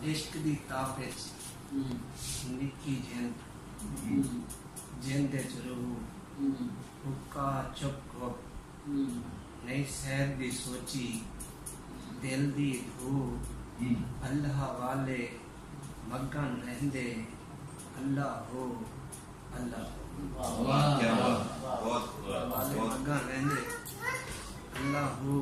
عشق دی تاپ اچ نکی جند جند اچ رہو حقا چپ گھو نئیں سہب دی سوچی دل دی دھو اللہ والے مگن رہندے اللہ ہو اللہ ہو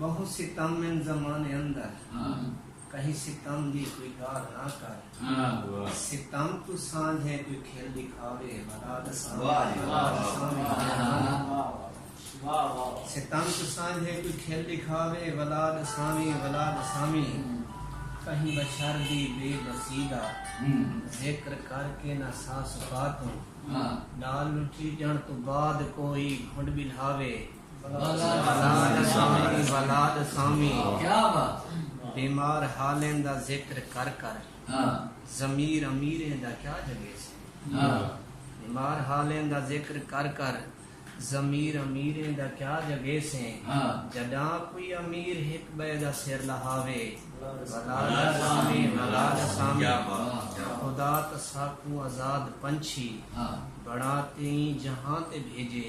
ٻہوں ستم ان زمانے اندر کہیں ستم دی کوئی ڳالھ نہ کر ستم توں سانجھے کوئی کھل ݙکھاوے ولا دا ستم توں سانجھے کوئی کھل ݙکھاوے ولا دا سامی ولا دا سامی کہیں بشر دی بے بسی دا ذکر کر کے نہ سا سکا توں ݙال لٹھی ڄݨ توں بعد کوئی گھنڈ ٻلھاوے بلا دے سامی بلا دے سامی بیمار حالیں دا ذکر کر کر ضمیر امیریں دا کیا جگیسی بیمار حالیں دا ذکر کر کر ضمیر امیریں دا کیا جگیسے جڈاں کوئی امیر ہک بئے دا سر لہاوے بلا دے سامی بلا دے سامی خدا تاں ساکوں آزاد پنچھی بنا تیں جہاں تے بھیجے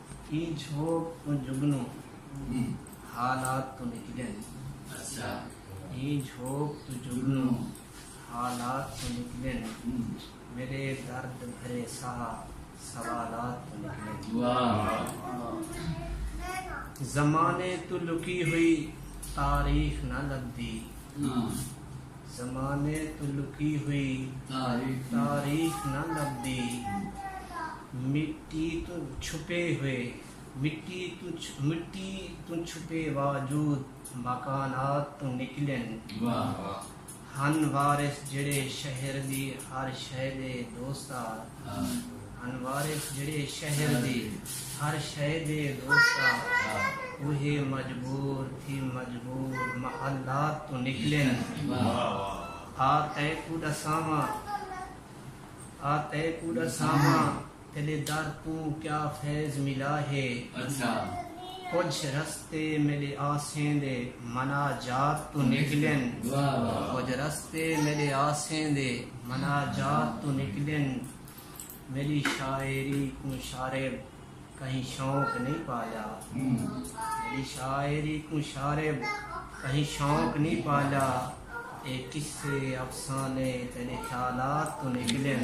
ایں چھوڑ توں جگنو حالات توں نکلن ایں چھوڑ توں جگنو حالات توں نکلن میݙے درد بھرے ساہ سوالات توں نکلن زمانے توں لکی ہوئی تاریخ نہ لبھدی زمانے توں لکی ہوئی تاریخ نہ لبھدی مٹی توں چھپے ہوئے مٹی مٹی توں چھپے واجود مکانات توں نکلن ہن وارث جیڑھے شہر دی ہر شئے دے دوستار انوار اچ جیڑھے شہر دی ہر شئے دے دوست آ اوہے مجبور تھی مجبور محلات توں نکلن آ تیکوں ڈساواں آ تیکوں ڈساواں تیڈے در توں کیا فیض ملا ہے کجھ رستے میڈے آسیں دے مناجات توں نکلن کجھ رستے میڈے آسیں دے مناجات توں نکلن میݙی شاعری کوں شارے کہیں شوق نی پالا میݙی شاعری کوں شارے کہیں شوق نی پالا اے قصے افسانے تیݙے خیالات توں نکلن